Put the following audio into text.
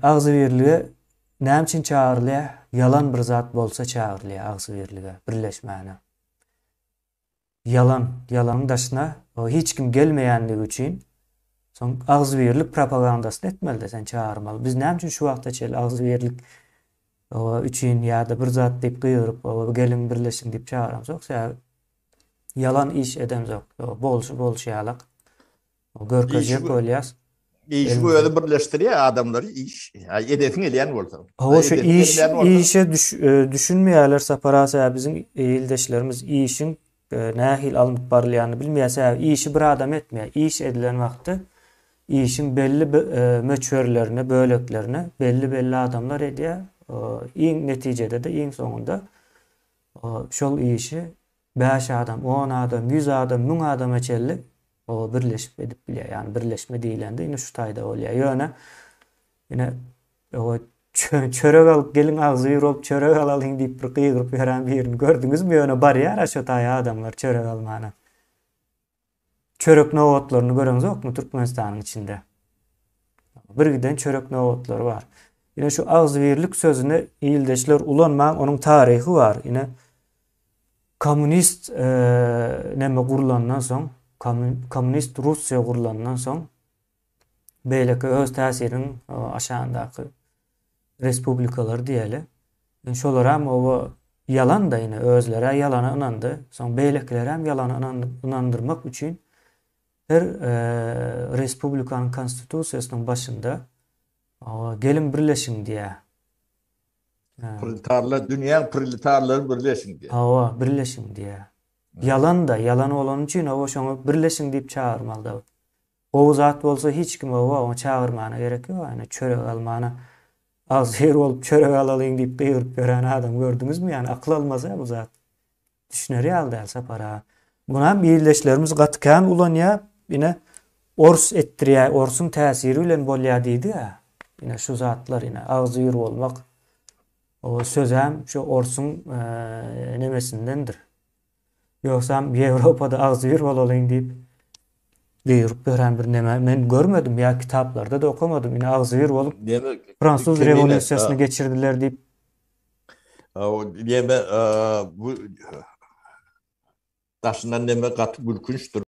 Agzybirlige näme üçin çagyrylýar? Ýalan bir zat bolsa çagyrylýar agzybirlige, birleşmäne. Ýalan, ýalanyň daşyna hiç kim gelmeýänligi üçin soň agzybirlik propagandasyny etmeli-de sen çagyrmaly. Biz näme üçin şu wagta çenli agzybirlik üçin ýa-da bir zat diýip gygyryp, geliň birleşiň diýip çagyramzok? Sebäbi ýalan iş edemzok. Bolşy bolşy ýalak. Görkezjek bolýas. Işiň özi birleşdirýär adamlary iş. Edesiň gelýän bolsa. Hawa şu iş işe düşünmeýärler Sapar aga sebäbi biziň ildeşlerimiz işiň nähili alnyp barylýanyny bilmeýär sebäbi işi bir adam etmeýär iş edilen wagty işiň belli möçberlerini böleklerini belli belli adamlar edýär iň netijede-de iň soňunda şol işi Bäş adam, on adam, ýüz adam, müň adama çenli oba birleşip edip bilýär. Ýagny birleşme diýilende indi şu taýda bolýar. Ýöne ine oba çörek alyp geliň agzybir bolup çörek alalyň diýip bir gygyryp ýören birini gördüňizmi? Ýöne barýar-a şu taýa adamlar çörek almana. Çörek nobatlaryny göreňzokmy Türkmenistanyň içinde? Birgiden çörek nobatlary bar. Ine şu agzybirlik sözüni ildeşler ulanmaň onuň taryhy bar. Ine kommunist neme gurlandan soň kommunist Russiýa gurlandan soň Beýleki öz täsiriniň aşagyndaky respublikalar diýeli. Şolaram oba ýalan-da ine özlerä ýalana ynandy. Soň beýlekilerem ýalana ynandyrmak üçin her respublikanyň konstitusiýasynyň başynda geliň birleşiň diýýär. Proletarlar dünýäň proletarlary birleşiň diýýär. Hawa, birleşiň diýýär. Ýalan-da, ýalan bolany üçin oba şoňa birleşiň diýip çagyrmaly-da. Gowy zat bolsa hiç kim oba oňa çagyrmana gerek ýok ýany çörek almana agzybir bolup çörek alalyň diýip gygyryp ýören adam gördüňizmi ýany akyl almazä bu zat düşüner ýaly däl Sapar aga. Munam ildeşlerimiz gaty kän ulanýa ine ors etdirýä orsuň täsiri bilen bolýa diýdiga ine şu zatlar ine agzybir bolmak o sözäm şu orsuň nemesindendir Ýogsam Ýewropada agzybir bolalyň diýip buýruk berän bir neme men görmedim ýa kitaplarda-da okamadym ine agzybir bolup Fransuz rewolýusiýasyny geçirdiler diýip Neme bu daşyndan neme gaty gülkünçdir.